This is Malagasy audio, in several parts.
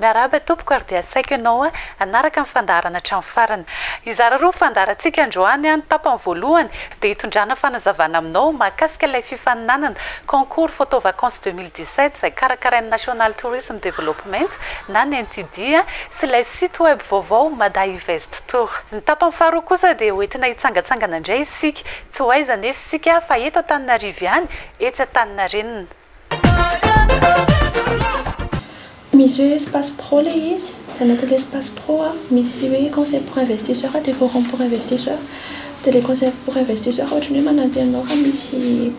Miarahaba tompoko ary dia asaiko ianao hanaraka ny fandaharana hatramin'ny farany. Hizara roa fandaharantsika androany, ny tapany voalohany dia hitondrana fanazavana aminao mahakasika ilay fifaninanana Concours Photo Vacances deux mille dix-sept izay karakarain'ny National Tourism Development na ny NTD sy ilay site web vaovao Madainvesttour. Ny tapany faharoa kosa dia ho entina hitsangatsangana indray isika, tsy ho aiza anefa isika fa eto Antananarivo ihany, etsy Antaninarenina. Misy hoe espace pro ilay izy, dia anatin'ilay espace pro misy hoe conseil pour investisseur dia forum pour investisseur, dia ilay conseil pour investisseur ohatran'ny hoe manampy anao raha misy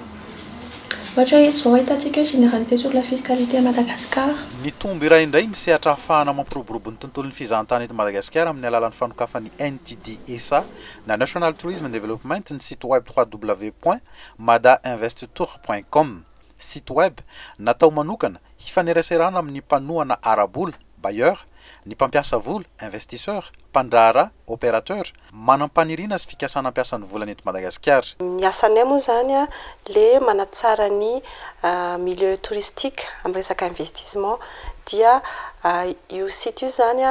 ohatra hoe eto izao ahitantsika hoe généralité sur la fiscalité à Madagascar. Nitombo iray indray ny sehatra ahafahana mampiroborobo ny tontolon'ny fizahan-tany eto Madagasikara amin'ny alalan'ny fanokafan'ny NTDSA na National Tourism Development ny site web www. Madainvesttour point com, site web natao manokana hifaneraserana amin'ny mpanohana ara-bola, bailleur, ny mpampiasa vola, investisseur, mpandraharaha, opérateur, manam-paniriana sy fikasana hampiasa ny volany eto Madagasikara. Ny asanay moa izany le manatsara ny milieu touristique amin'ny resaka investissement dia io site io izany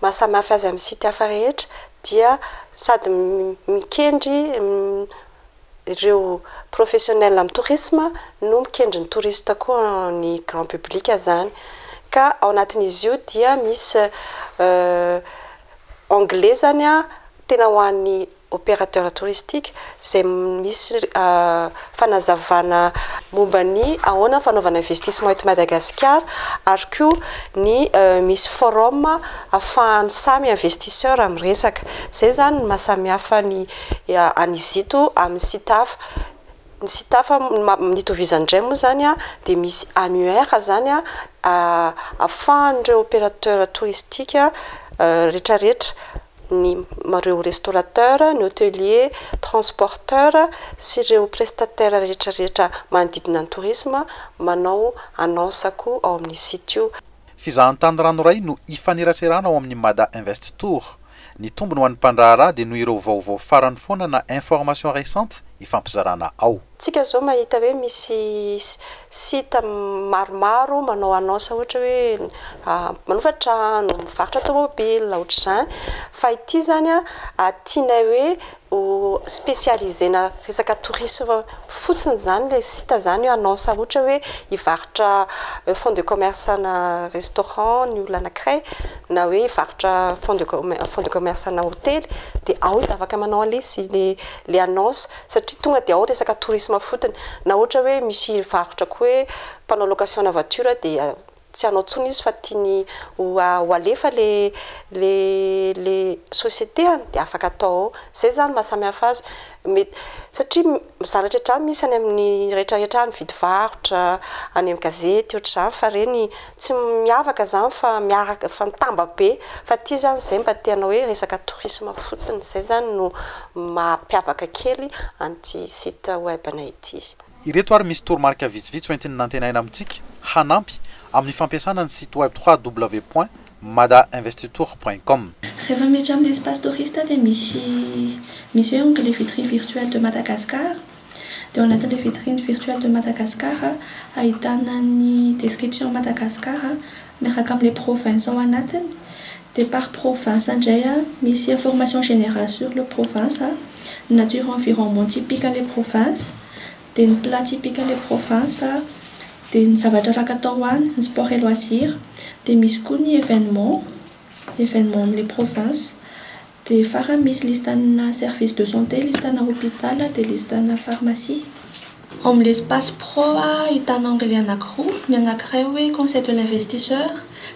maha samy hafa azy amin'ny site hafa rehetra dia sady mikendry ireo professionnels amin'ny tourisme no mikendry ny touriste koa ny grand public izany ka ao anatin'izy io dia misy anglais izany tena ho an'ny opérateur touristique izay misy fanazavana momba ny ahoana ny fanaovana investissement eto Madagasikara ary koa ny misy forum afahan'ny samy investisseur miresaka, izay izany no maha samihafa ny Any Izito amin'ny Sitafa. Ny Sitafa nitovizany indray moa izany dia misy annuaire izany ahafahan'ireo opérateur touristique rehetrarehetra, ny ireo restaurateur, ny hotelier, transporteur sy ireo prestataire rehetrarehetra manodidina ny tourisme manao annonce koa ao amin'ny site io. Fizahantany ranoray no ifaneraserana ao amin'ny Mada Invest Tour. Ny tombony ho an'ny mpandraharaha dia noho ireo vaovao farany foana na informations récentes ifampizarana ao. Tsika zao mahita hoe misy site maromaro manao annonce ohatra hoe manofa trano, mivarotra tomobile, ohatr'izany, fa ity zany tianay hoe ho specialiser-na resaka tourisme fotsiny izany ilay site izany eo annonce ohatra hoe hivarotra fonds de commerce ana restaurant ny olona anankiray na hoe hivarotra fonds de fonds de commerce ana hotely dia ao izy afaka manao an'ilay si- ilay annonce satria tonga dia ao resaka tourisme fotiny na ohatra hoe misy hivarotra koa hoe mpanao location ana voiture dia Tsy hanao tsony izy fa tiany ho ho alefa le le le société an! dia afaka atao ao. Zay zany ny maha samy hafa azy. Mety satria mizanatra hatrany misy any amin'ny rehetra rehetra any mividy varotra, any amin'ny gazety ohatr'izany fa ireny tsy miavaka zany fa miaraka fa mitamba be. Fa aty zany zay mba te hanao hoe resaka tourisme fotsiny. Zay zany no mampiavaka kely an'ity site web-nay ity. Ireto ary misy toromarika vitsivitsy ho entin'ny nantenaina amintsika hanampy amin'ny fampiasana ny site web www.madainvestitour.com. Rehefa miditra amin'ny espace touriste dia misy misy hoe onglet vitrine virtuelle de Madagascar. Dia ao anatin'ilay vitrine virtuelle de Madagascar ahitana ny description Madagascar miaraka amle province ao anatiny de par province ndray a misy information generale sur le province a ny nature environnement typique anle province de ny plat typique anle province a de ny zavatra afaka atao any ny sport et loisir de misy koa ny evenement evenement amle province. Dia farany misy listana service de santé, listana hôpital, dia listana pharmacie. Ao amin'ny Espace Pro ahitana onglet anankiroa, ny anankiray hoe Conseil de l'investisseur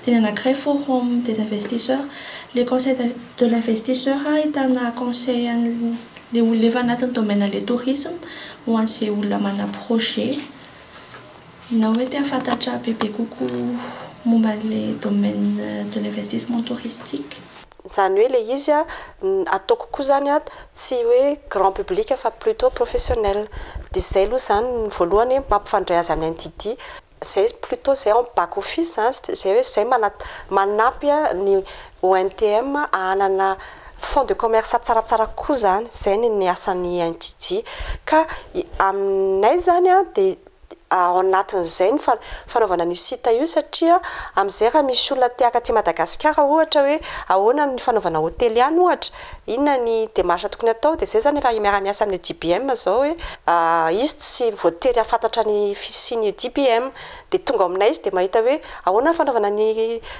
dia ny anankiray Forum des investisseurs. Ilay Conseil de l'investisseur ahitana conseil an'ilay olona efa anatin'ny domaine an'ilay tourisme ho an'izay olona manana projet na hoe te hahafantatra bebe kokoa momba an'ilay domaine de l'investissement touristique. Izany hoe ilay izy ataoko koa izany tsy hoe grand public fa plutot professionnel. Dia izay aloha izany ny voalohany hoe mampifandray azy amin'ny NTD. Izay plutot izay en back office izany izay hoe izay manampy ny ONTM hanana fonds de commerce tsaratsara kokoa izany. Izay ny asan'ny NTD. Ka aminay izany dia ao anatin'izay ny fanaovana an'io site io satria amin'izay raha misy olona te-haka aty Madagasikara ohatra hoe ahoana ny fanaovana hotely any ohatra, inona ny démarche tokony hatao, dia izay izany efa miara-miasa amin'io DBM izao hoe izy tsy voatery hahafantatra ny fisian'io DBM, dia tonga ao aminay izy dia mahita hoe ahoana ny fanaovana ny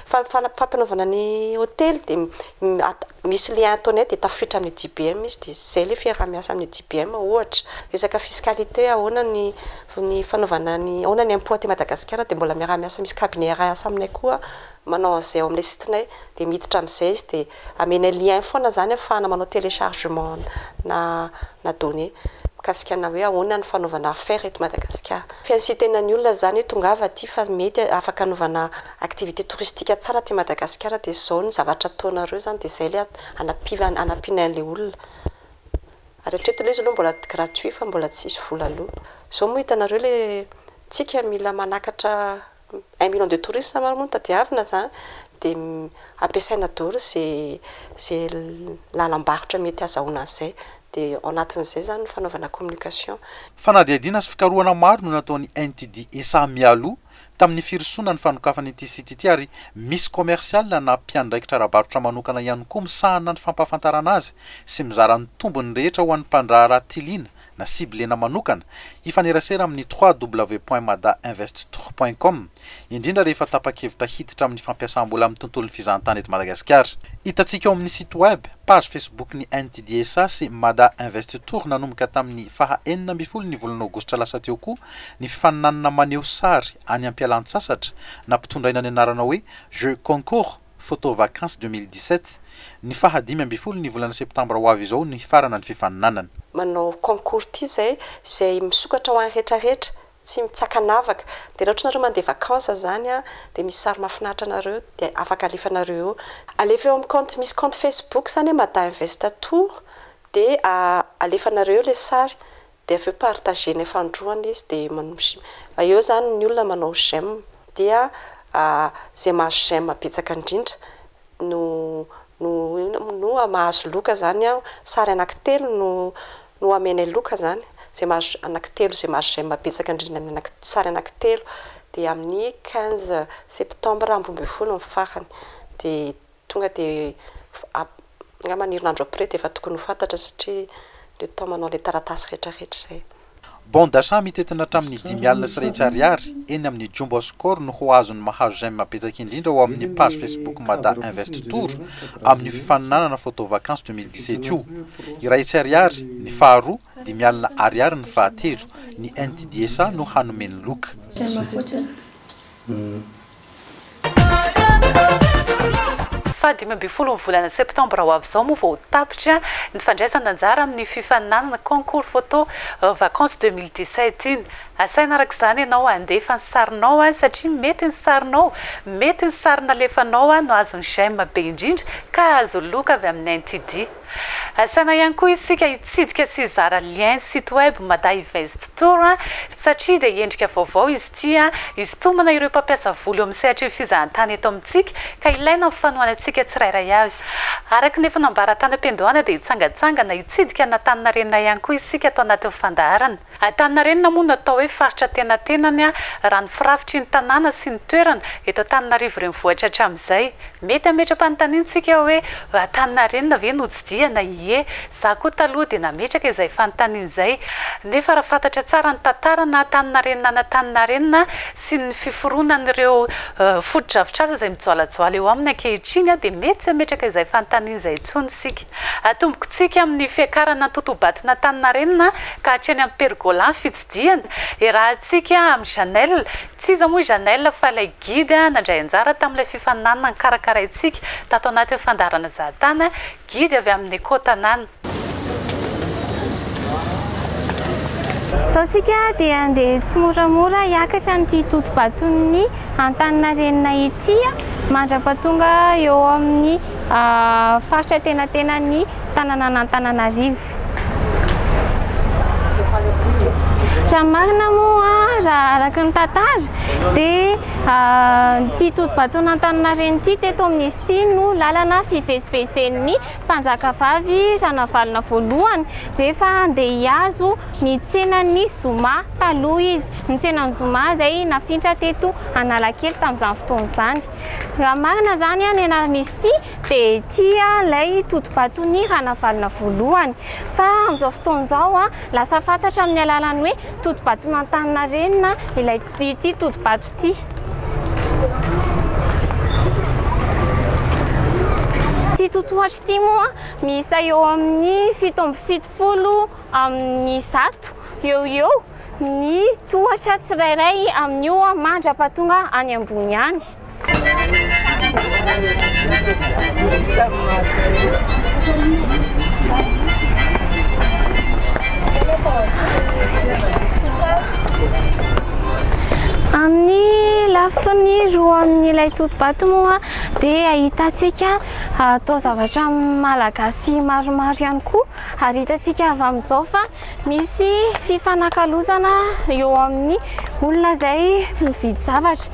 fampanaovana ny hotely dia Misy le Antoinette dia tafiditra amin'ny JBM izy dia izay le fiaraha-miasa amin'ny JBM ohatra. Resaka fiscalité ahoana ny ny fanaovana ny ahoana ny impôt aty Madagasikara dia mbola miaraha-miasa misy cabinet iray asa aminay koa manao an'izay ao amin'ilay site-nay dia miditra amin'izay izy dia amenay lien foana izany ahafahana manao téléchargement na na données mikasika ana hoe ahoana ny fanaovana affaire eto Madagasikara. Fiansian-tenan'ny olona izany hoe tongava aty fa mety afaka anaovana Activité touristique tsara aty Madagasikara dia izao ny zavatra ataonareo izany dia izay ilay hanampiana hanampianay an'ilay olona. Ary hatreto ilay izy aloha mbola gratuit fa mbola tsy hisy vola aloha. Izao moa hitanareo ilay tsika mila manakatra un million de touristes ary moa no tadiavina izany dia ampiasaina daholo izay izay lalam-barotra mety hazahoana an'izay. Dia ao anatin'izay izany ny fanaovana communication. Fanadihadiana sy fikarohana maro no nataon'ny NTDSA mialoha tamin'ny firosoana ny fanokafana ity site ity ary misy commercial na mpiandraikitra ara-barotra manokana ihany koa misahana ny fampahafantarana azy sy mizara ny tombony rehetra ho an'ny mpandraharaha tiliana na ciblena manokana hifanerasera amin'ny www.madainvesttour.com indrindra rehefa tapa-kevitra hiditra amin'ny fampiasam-bola amin'ny tontolon'ny fizahantany eto Madagasikara. Hitantsika ao amin'ny site web, page Facebook ny NTDSA sy Mada Invest Tour nanomboka tamin'ny faha enina ambin'ny folo ny volana aogositra lasa teo koa Ny faninanana maneho sary any am-pialantsasatra nampitondraina ny anarana hoe Jeux Concours Photo Vacances 2017. Ny faha dimy ambin'ny folo ny volana septambra ho avy izao no hifarana ny fifaninanana. Manao concours ity izay izay misokatra ho an'ny retraretra tsy mitsakanavaka dia raha ohatra ianareo mandeha vacances izany an dia misy sary mahafinaritra anareo dia afaka alefanareo eo. Alefa eo amin'ny compte misy compte facebook izany hoe Mada Invest Tour dia alefanareo eo ilay sary Dia avy eo partager ny fandroana izy dia manosy eo zany ny olona manao j'aime dia zay mahazo j'aime betsaka indrindra no no inona moa no mahazo loka zany an sary anaky telo no no amenay loka zany zay mahazo anaky telo zay mahazo j'aime betsaka indrindra amin'ny anaky sary anaky telo dia amin'ny quinze septembre amby roa ambin'ny folo ny farany dia Tonga dia angamba ny herinandro après dia efa tokony ho fantatra satria le temps manao ilay taratasy rehetra rehetra izay. Bon d'achat mitety ny hatramin'ny dimy alina sy iray hetsy ariary eny amin'ny Jumbo à Score no ho azon'ny mahazo j'aime betsaka indrindra ao amin'ny page Facebook Mada Invest Tour amin'io fifaninanana photo vacances deux mille dix-sept io. Iray hetsy ariary ny faharoa, dimy alina ariary ny fahatelo. Ny NTDSA no hanome ny loka. Teny fotsiny. Fahadimy ambin'ny folo ny volana septambra ho avy izao moa vao ho tapitra ny fandraisana anjara amin'ny fifaninanana Concours Photo Vacances deux mille dix-sept iny. Asaina araka izany ianao handefa ny sarinao satria mety ny sarinao, mety ny sary nalefanao no azon'ny j'aime be indrindra ka hahazo loka avy amin'ny NTD. Asaina ihany koa isika hitsidika sy hizara lien site web Madainvest Tour satria dia endrika vaovao izy ity hisintomana ireo mpampiasa vola eo amin'ny sehatry ny fizahantany eto amintsika ka ilaina amin'ny fanohanantsika tsirairay avy. Araka ny efa nambara tany am-piandohana dia hitsangantsangana hitsidika an'Antaninarenina ihany koa isika ato anatin'ny fandaharana. Antaninarenina moa no atao hoe faritra antenatenany raha ny firafitry ny tanàna sy ny toerana eto Antananarivo renivohitra hatramin'izay. Mety hametra-panontaniana isika hoe Antaninarenina ve notsidihana? Ie, za koa taloha dia nametraka izay fanontaniana izay. Nefa raha fantatra tsara ny tantara na Antaninareninan'Antaninarenina sy ny fiforonan'ireo fotodrafitrasa izay mijoalajoala eo aminy ankehitriny dia mety tsy hametraka izay fanontaniana izay intsony isika. Atombokontsika amin'ny fiakarana an-totobaton'Antaninarenina ka hatreny amin'ny pergola fitsidihana. Iarahantsika amin'i Janelle. Tsy iza moa i Janelle fa ilay Guide nandray anjara tamin'ilay fifaninanana nikarakaraintsika tato anatin'ny fandaharana Zahatany, Guide avy amin'ny Eco Tanàna. Izao isika dia handeha tsimoramora hiakatra an'ity totobaton'ny Antaninarenina ity mandra-pahatonga eo amin'ny faritra an-tenatenan'ny tanànan'Antananarivo. Raha ny marina moa raha araka ny tantara dia ity todi-baton'Antaninarenina ity teto amin'ny sia no lalana fivezivezen'ny mpanjakavavy Ranavalona voalohany rehefa handeha hihazo ny tsenan'ny zoma taloha izy. Ny tsenan'ny zoma izay nafindra teto Analakely tamin'izany fotoana izany. Raha marina izany an, eny Armistice dia ity ilay totobaton'i Ranavalona voalohany. Fa amin'izao fotoana izao an, lasa fantatra amin'ny alalan'ny hoe totobaton'Antaninarenina ilay ity totobato ity. Ity totohatra ity moa miisa eo amin'ny fito amby fitopolo amin'ny zato eo ho eo. Ny tohatra tsirairay amin'io mandra-pahatonga any ambony any. Amin'ny lafiny roa amin'ilay totobato moa dia ahitantsika ah, taozavatra malagasy maromaro ihany koa ary hitantsika avy amin'izao fa Misy fifanakalozana eo amin'ny olona izay mividy zavatra.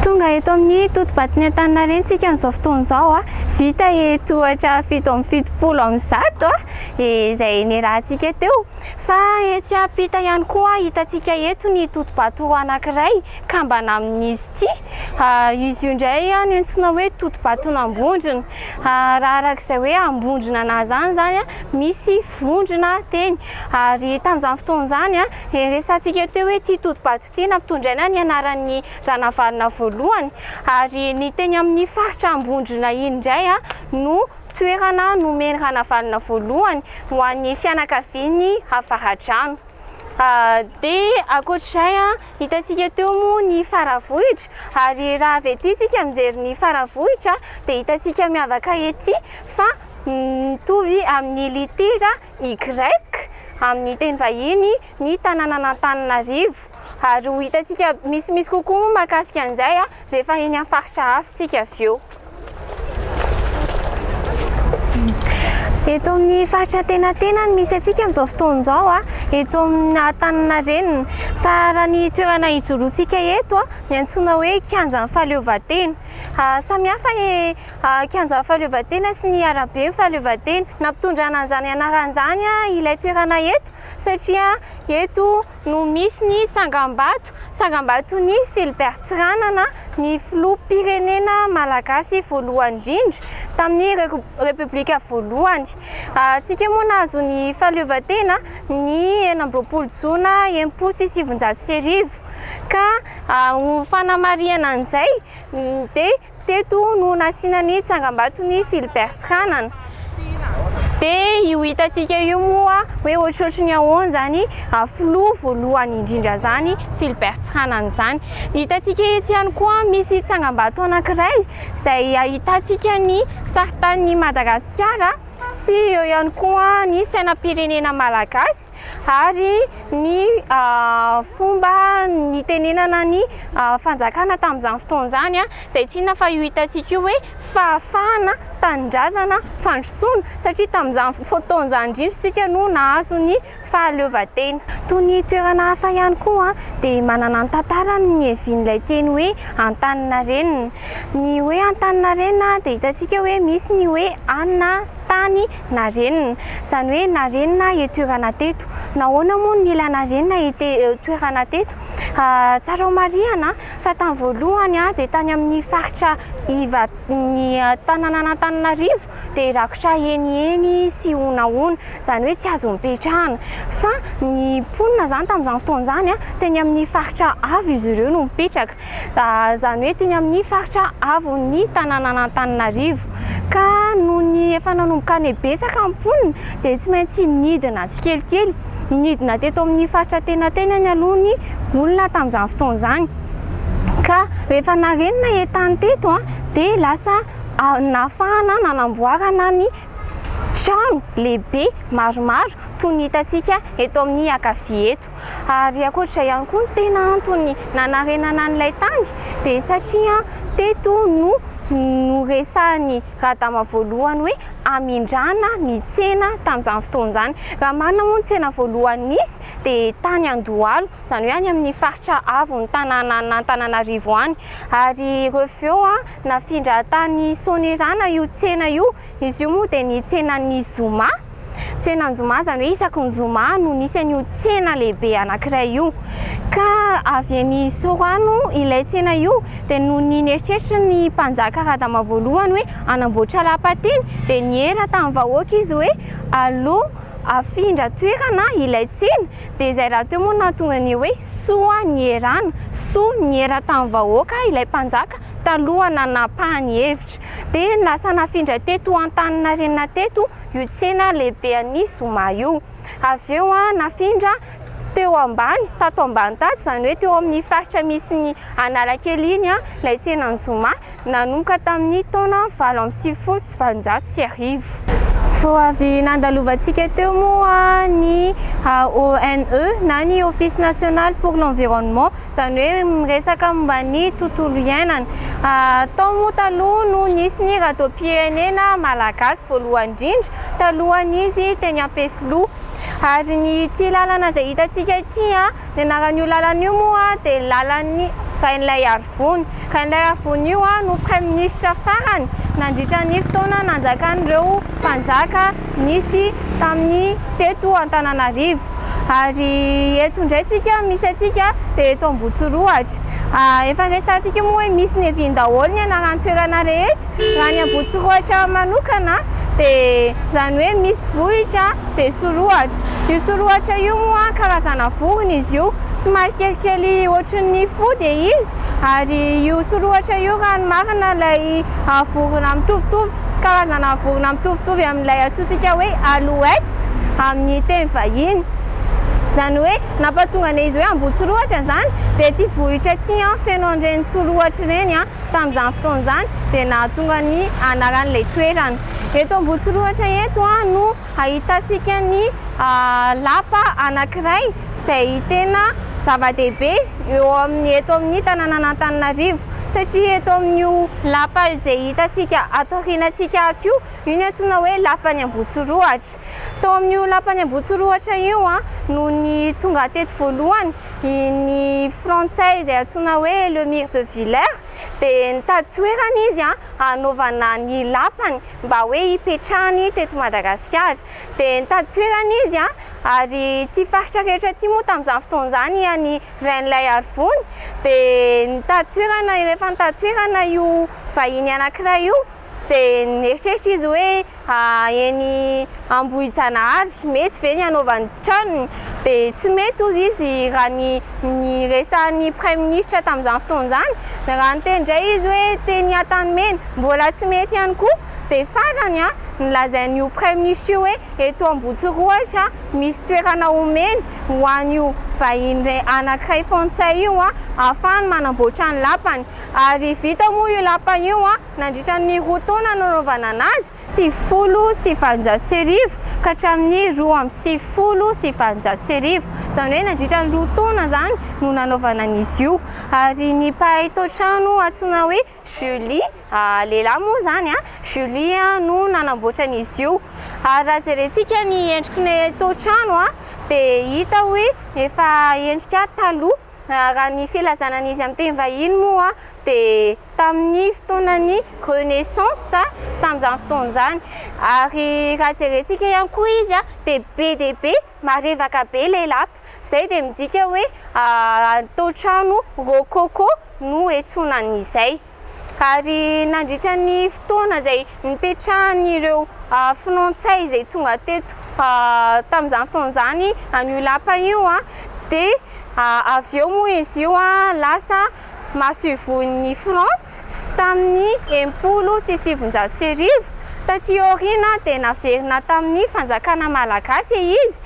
Tonga eto amin'ny totobaton'i Antaninarenina isika amin'izao fotoana izao. Vita eto ohatra fito amby fitopolo amin'ny zato izay niarahantsika teo. Fa etsy ampita ihany koa hitantsika eto ny totobato anankiray kambana amin'izy ity. Izy io indray no antsoina hoe totobaton'Ambondrona. Raha araka izay hoe ambondrona anà zany zany a, misy vondrona teny. Ary tamin'izany fotoana izany a, resahantsika teo hoe ity Totobato ity nampitondraina ny anaran'ny Ranavalona voalohany. Ary ny teny amin'ny faritra Ambondrona iny indray a no toerana nomen'i Ranavalona voalohany ho an'ny fianakaviany Avaradrano. Dia ankoatr'izay a. Hitantsika teo moa ny Faravohitra ary raha avy ety isika mijery ny Faravohitra dia hitantsika miavaka ety fa mitovy amin'ny litera Y amin'ny teny vahiny ny tanànan'Antananarivo ary ho hitantsika misimisy kokoa moa mahakasika an'izay rehefa eny amin'ny faritra hafa isika avy eo. Eto amin'ny faritra Antenantena no misy antsika amin'izao fotoana izao, eto amin'ny Antaninarenina. Fa raha ny toerana ijoroantsika eto dia antsoina hoe kianjan'ny fahaleovantena. Samihafa ny kianjan'ny fahaleovantena sy ny araben'ny fahaleovantena. Nampitondrana an'izany anarana izany ilay toerana eto satria eto... no misy ny tsangambato, tsangambaton'i Philbert Tsiranana, ny filoham-pirenena malagasy voalohany indrindra tamin'ny Repoblika voalohany. Antsika moa nahazo ny fahaleovantena ny enina amby roapolo jona enimpolo sy sivinjato sy arivo ka ho fanamarihana an'izay dia Teto no nasiana ny tsangambaton'i Philbert Tsiranana. Dia io hitantsika io moa hoe ohatrohatry ny ahoana izany filoha voalohany indrindra izany Philbert Tsiranana izany. Hitantsika etsy ihany koa misy tsangambato anankiray izay ahitantsika ny saritanin'i Madagasikara sy eo ihany koa ny sainam-pirenena malagasy. Malagasy ary ny fomba nitenenana ny fanjakana tamin'izany fotoana izany izay tsy inona fa io hitantsika io hoe fahafahana, tanindrazana, fandrosoana satria tamin'izany fotoana izany indrindra isika no nahazo ny fahaleovantena. Toy ny toerana hafa ihany koa dia manana ny tantarany ny iavian'ilay teny hoe Antaninarenina. Ny hoe Antaninarenina dia hitantsika hoe misy ny hoe anina, tany. Narenina. Izany hoe narenina aho toerana teto. Nahoana moa no nila narenina ity toerana teto? Tsara ho marihana fa tamin'ny voalohany dia tany amin'ny faritra iva ny tananan'Antananarivo dia rakotra heniheny sy honahona, izany hoe tsy azo nipetrahana. Fa ny mponina izany tamin'izany fotoana izany, teny amin'ny faritra avo izy ireo no mipetraka. izany hoe teny amin'ny faritra avon'ny tanànan'Antananarivo ka noho ny efa nanomboka any betsaka ny mponina dia tsy maintsy nidina tsikelikely, nidina teto amin'ny faritra tena tenany aloha ny olona tamin'izany fotoana izany ka rehefa narenina entany teto dia lasa nahafahana nanamboarana ny trano lehibe maromaro toy ny hitantsika eto amin'ny ankavia eto. Ary ankoatr'izay ihany koa, ny tena antony nanarenana an'ilay tany dia satria teto no noresahan'i Radama voalohany hoe hamindrana ny tsena tamin'izany fotoana izany. Raha marina moa ny tsena voalohany nisy dia tany Andohalo, izany hoe any amin'ny faritra avon'ny tanànan'Antananarivo any. Ary reveo nafindra tany Soanierana io tsena io. Izy io moa dia ny tsenan'ny zoma. tsenan zoma, izany hoe isaky ny zoma no nisy an'io tsena lehibe anankiray io, ka avy eny Sorano ilay tsena io dia noho ny nieritreritra ny mpanjaka Radama voalohany hoe hanamboatra lapa teny dia niera tamin'ny vahoaka izy hoe aleo afindra toerana ilay tsena, dia izay rahateo moa no nahatonga ny hoe soa nierana, soa niera tamin'ny vahoaka ilay mpanjaka taloha nanapahany hevitra, dia lasa nafindra teto Antaninarenina teto io tsena lehibe an'i Zoma io. Avy eo nafindra teo ambany, tato ambany tato, izany hoe teo amin'ny faritra misy ny Analakely iny ilay tsenan'i Zoma, nanomboka tamin'ny taona valo amby sivifolo sy valonjato sy arivo. Vao avy nandalovantsika teo moa ny ONE na ny Office National pour l'Environnement izany hoe miresaka momba ny tontolo iainana. Tao moa taloha no nisy ny radiom-pirenena malagasy voalohany indrindra, talohan'izy teny Ampefiloha. Ary ny ity lalana izay hitantsika ity, ny anaran'io lalana io moa dia ny lalan'i Rainilaiarivony. Rainilaiarivony io no praiminisitra farany nandritra ny fotoana nanjakan'ireo mpanjaka. nisy tamin'ny teto Antananarivo ary eto indray tsika misy antsika dia eto Ambotsirohatra efa resahantsika moa hoe misy neviny daholo ny anaran-toerana rehetra raha ny Ambotsirohatra manokana dia izany hoe misy vohitra dia sorohatra io sorohatra io moa karazana vorona izy io somary kelikely ohatry ny fody izy Ary io sorohatra io raha ny marina ilay vorona mitovitovy, karazana vorona mitovitovy amin'ilay antsointsika hoe alouette amin'ny teny vahiny. Izany hoe nampahatonga an'ilay izy hoe Ambohitsorohatra izany dia ity vohitra ity feno an'ireny sorohatra ireny tamin'izany fotoana izany dia nahatonga ny anaran'ilay toerana. Eto Ambohitsorohatra eto no Ahitantsika ny lapa anankiray izay tena zava-dehibe eo amin'ny eto amin'ny tanànan'Antananarivo satria eto amin'io lapa izay hitantsika ato aorianantsika ato io, io no antsoina hoe lapan'ny Ambohitsirohatra. Tao amin'io lapan'ny Ambohitsirohatra io no tonga teto voalohany ny frantsay izay antsoina hoe Lemire de Villers dia nitady toerana izy hanaovana ny lapany. mba hoe hipetrahany teto Madagasikara. Dia nitady toerana izy ary ity faritra rehetra ity moa tamin'izany fotoana izany ian'ny Rainilay Arivony dia nitady toerana rehefa nitady toerana io vahiny anankiray io dia nieritreritra izy hoe eny Ambohijanahary, mety ve ny hanaovany ny tranony? Dia tsy mety hozy izy raha ny niresahan'ny praiminisitra tamin'izany fotoana izany. Raha niteny indray izy hoe teny Antanimena, mbola tsy mety ihany koa. Dia farany, nolazain'io praiminisitra io hoe eto Ambohitsirohitra misy toerana omeny ho an'io vahiny anankiray frantsay io ahafahany manamboatra ny lapany. Ary vita moa io lapa io nandritra ny roa taona nanaovana anazy. sivifolo sy valonjato sy arivo ka hatramin'ny roa amby sivifolo sy valonjato sy arivo, izany hoe nandritra ny roa taona izany no nanaovana an'izy io, ary ny mpahay tao-trano antsoina hoe Julie, lehilahy moa izany an, Julie no nanamboatra an'izy io, ary raha jerentsika ny endriky ny tao-trano dia hita hoe efa endrika taloha. Raha ny filazana ny izy amin'ny teny vahiny moa dia tamin'ny fotoanan'ny Renaissance tamin'izany fotoana izany. Ary raha jerentsika ihany koa izy dia be dia be marevaka be ilay lapa. Izay dia midika hoe tao-trano rococo no iantsoana an'izay. Ary nandritra ny fotoana izay nipetrahan'ireo Frantsay izay tonga teto tamin'izany fotoana izany an'io lapa io dia avy eo moa izy io lasa masoivohon'ny Frantsa tamin'ny enimpolo sy sivinjato sy arivo. Taty aoriana dia naverina tamin'ny fanjakana malagasy izy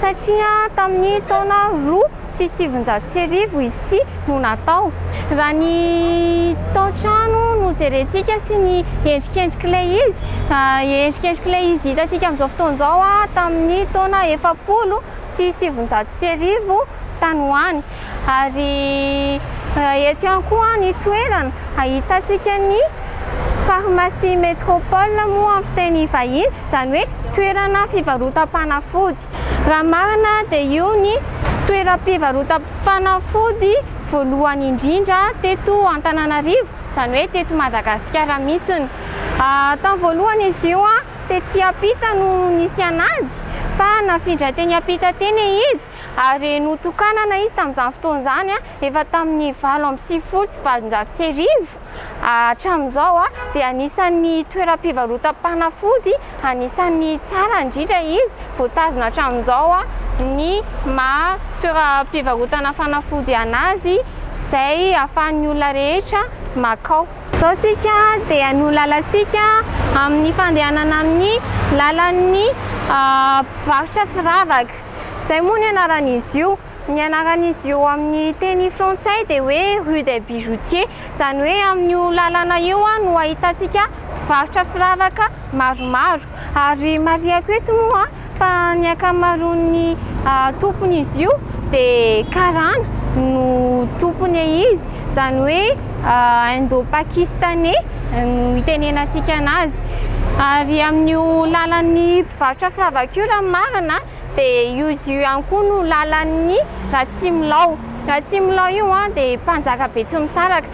satria tamin'ny taona roa sy sivinjato sy arivo izy ity no natao. Raha ny tao-trano no jerentsika sy ny endrikendrik'ilay izy, endrikendrik'ilay izy hitantsika amin'izao fotoana izao tamin'ny taona efapolo sy sivinjato sy arivo tany ho any. Ary eto ihany koa ny toerana ahitantsika ny pharmacie Metropole moa amin'ny fiteny vahiny, izany hoe toerana fivarotam-panafody. Raha marina dia io ny toeram-pivarotam-panafody voalohany indrindra teto Antananarivo, izany hoe teto Madagasikara mihitsiny. Tamin'ny voalohany izy io tety ampita no nisiana azy fa nafindra teny ampita teny izy Ary notokanana izy tamin'izany fotoana izany, efa tamin'ny valo amby sivifolo sy valonjato sy arivo hatramin'izao, dia anisan'ny toeram-pivarotam-panafody anisan'ny tsara indrindra izy, voatazona hatramin'izao ny maha toeram-pivarotana fanafody an'azy izay ahafahan'ny olona rehetra makao. Izao isika dia no lalantsika amin'ny fandehanana amin'ny lalan'ny mpivarotra firavaka. Izay moa ny anaran'izy io. Ny anaran'izy io amin'ny teny frantsay dia hoe rue des bijoutiers, izany hoe amin'io lalana io no ahitantsika mpivarotra firavaka maromaro. Ary marihako eto moa fa ny ankamaroan'ny tompon'izy io dia karana no tompony izy, izany hoe. indo-pakistaney no hitenenantsika anazy ary amin'io lalan'ny mpivarotra firavaka io raha ny marina dia io izy io ihany koa no lalan'ny Ratsimilao, Ratsimilao io dia mpanjaka Betsimisaraka.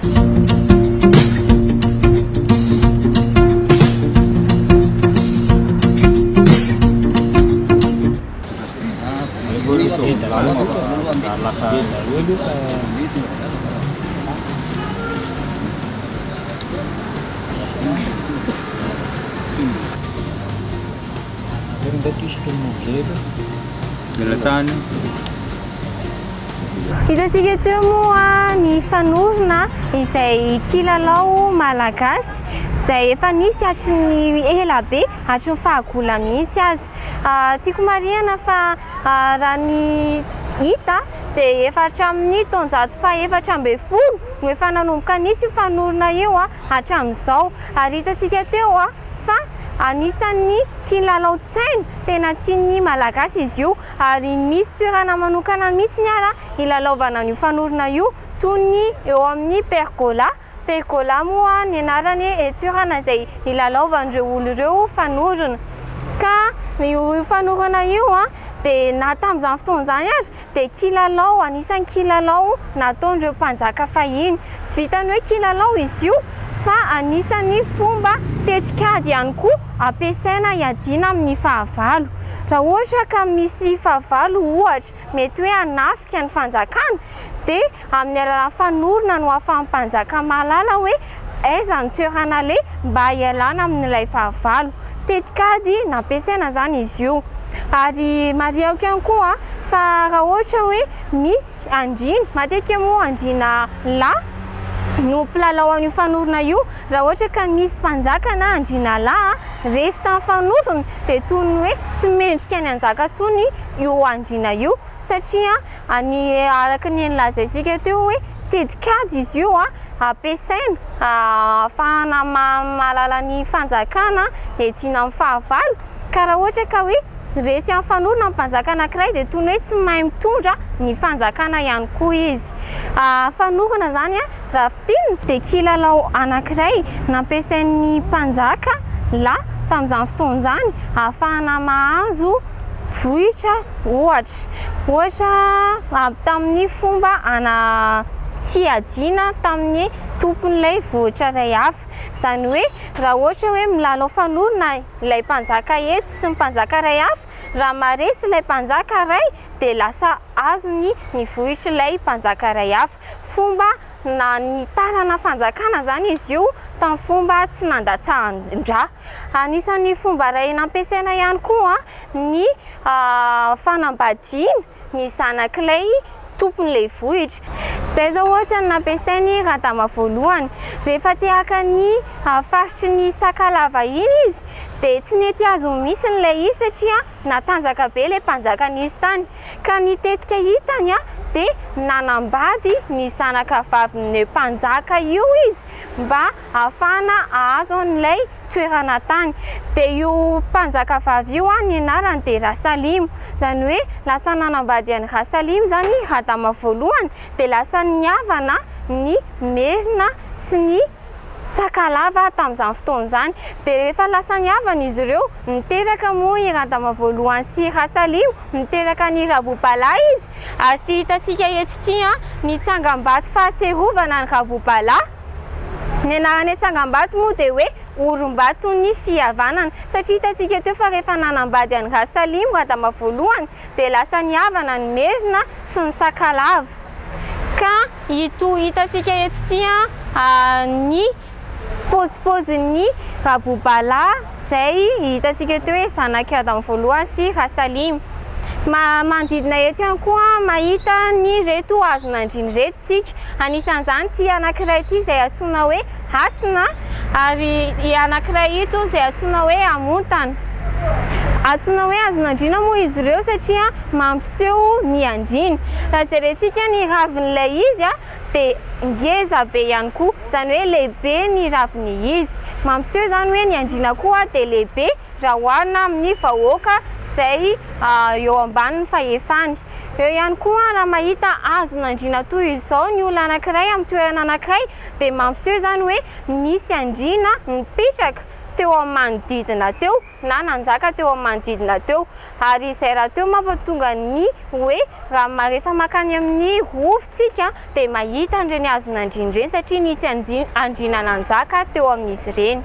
Hitantsika teo moa ny fanorona izay kilalao malagasy izay efa nisy hatry ny ela be, hatry ny fahagola mihitsy aza. Tiako marihana fa raha ny hita dia efa hatramin'ny taonjato fahefatra ambin'ny folo no efa nanomboka nisy io fanorona io hatramin'izao. Ary hitantsika teo fa anisan'ny kilalaon-tsaina tena tian'ny Malagasy izy io ary misy toerana manokana mihitsy ary hilalaovana an'io fanorona io toy ny eo amin'ny pergola. Pergola moa ny anarany e toerana izay hilalaovan'ireo olo ireo fanorona ka io fanorona io dia na tamin'izany fotoana izany ary dia kilalao anisan'ny kilalao nataon'ireo mpanjaka fahiny tsy vitan'ny hoe kilalao izy io fa anisan'ny fomba tetikady ihany koa ampiasaina hiadiana amin'ny fahavalo raha ohatra ka misy fahavalo ohatra mety hoe hanafika ny fanjakana dia amin'ny alalan'ny fanorona no ahafahan'ny mpanjaka mahalala hoe aiza ny toerana aleha mba hialana amin'ilay fahavalo. Tetikady nampiasaina izany izy io ary marihako ihany koa fa raha ohatra hoe misy andriana, matetika moa andriana lahy no mpilalao an'io fanorona io, raha ohatra ka misy mpanjaka na andriana lahy resy tamin'ny fanorona dia toy ny hoe tsy mendrika ny hanjaka intsony. io andriana io satria ny araka ny nolazaintsika teo hoe tetikady izy io ampiasaina ahafahana mahalala ny fanjakana edina amin'ny fahavalo ka raha ohatra ka hoe resy amin'ny fanorona ny mpanjaka anankiray dia toy ny hoe tsy mahay mitondra ny fanjakana ihany koa izy. Fanorona izany raha fintinina dia kilalao anankiray nampiasain'ny mpanjaka lahy tamin'izany fotoana izany ahafahana mahazo vohitra ohatra ohatra avy tamin'ny fomba ana tsiadiana tamin'ny tompon'ilay vohitra iray hafa izany hoe raha ohatra hoe milalao fanorona ilay mpanjaka eto sy ny mpanjaka iray hafa raha maharesy ilay mpanjaka iray dia lasa azony ny vohitry ilay mpanjaka iray hafa fomba na nitarana fanjakana izany izy io tamin'ny fomba tsy nandatsahan-dra Anisan'ny fomba iray nampiasaina ihany koa ny fanambadiana ny zanak'ilay tompon'ilay vohitra. Izay izao ohatra no nampiasain'i Radama voalohany. Rehefa te haka ny faritry ny Sakalava iny izy dia tsy nety azony mihitsy ilay izy satria natanjaka be ilay mpanjaka nisy tany. Ka ny tetika hitany dia nanambady ny zanakavavin'io mpanjaka io izy mba ahafahana ahazo an'ilay toerana tany. Dia io mpanjakavavy io ny anarany dia Rasalimo. Izany hoe lasa nanambady an'i Rasalimo izany i Radama voalohany dia lasa nihavana ny Merina sy ny Sakalava tamin'izany fotoana izany. Dia rehefa lasa nihavana izy ireo, niteraka moa i Radama voalohany sy i Rasalimo, niteraka an'i Rabobala izy. Ary ity hitantsika eto ity ny tsangambato fahatsiarovana an'i Rabobala. Ny anaran'ilay tsangambato moa dia hoe Orimbaton'ny Fihavanana, satria hitantsika teo fa rehefa nanambady an'i Rasalimo Radama voalohany dia lasa nihavana ny Merina sy ny Sakalava, ka ito hitantsika eto ity ny pozipozin'ny Rabobalahy. Izay hitantsika eto hoe zanak'i Adama voalohany sy Rasalima. Manodidina eto ihany koa mahita an'ireto hazon'andriana ireto isika. Anisan'izany ity anankiray ity izay antsoina hoe hasina ary io anankiray io toa izay antsoina hoe hamontana. Antsoina hoe hazon'andriana moa izy ireo satria mampiseho ny andriana. Raha jerentsika ny ravin'ilay izy. dia ngeza be ihany koa, izany hoe lehibe ny ravin'ny izy. Mampiseho izany hoe ny andriana koa dia lehibe raha oharina amin'ny vahoaka izay eo ambanin'ny fahefany. Eo ihany koa raha mahita hazon'andriana toy izao ny olona anankiray amin'ny toerana anankiray dia mampiseho izany hoe nisy andriana nipetraka teo amin'ny manodidina teo. na nanjaka teo amin'ny manodidina teo, ary izay rahateo mampatonga ny hoe raha rehefa mankany amin'ny Rova isika dia mahita an'ireny hazon'andriana ireny satria nisy andriana nanjaka teo amin'izy ireny.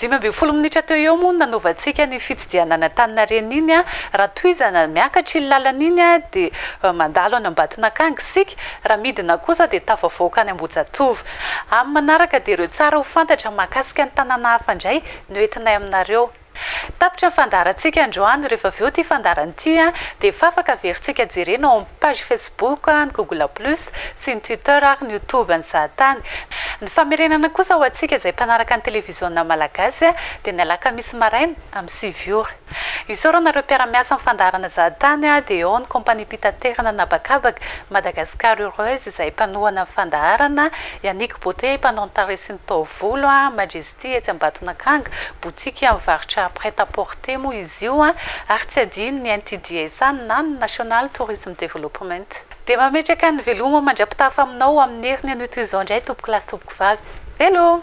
Dimy ambin'ny folo minitra teo eo moa no nanaovantsika ny. dia nanantanina reny iny an, raha tohizana miakatra iny lalana iny an dia mandalo any Ambatonakanga isika, raha midina kosa dia tafavoaka any Ambohijatovo. Amin'ny manaraka dia ireo tsara ho fantatra mahakasika ny tanàna hafa indray no entinay aminareo. Tapitra ny fandaharantsika androany, rehefa avy eo ity fandaharana ity an dia efa afaka averintsika jerena ao Page Facebook, ny Google Plus, sy ny Twitter ary ny Youtube ny zahatany. Ny famerenana kosa ho antsika izay mpanaraka ny televiziona malagasy dia ny alakamisy maraina amin'ny sivy ora. Isaorana ireo mpiara-miasa amin'ny fandaharana zahatany dia ao ny Kompaniam-pitaterana an'habakabaka Madagascar Heureuse izay mpanohana ny fandaharana, Yannick Beauté mpanao ny tarehy sy ny taovolo, Majestic, Aty etsy Ambatonakanga, botiky mivarotra prêt à porter moa izy io ary tsy adino ny NTDSA na ny National Tourism Development. Dia mametraka ny veloma mandra-pitafa aminao amin'ny heriny an'ito izao indray tompoko lahy sy tompoko vavy. Veloma!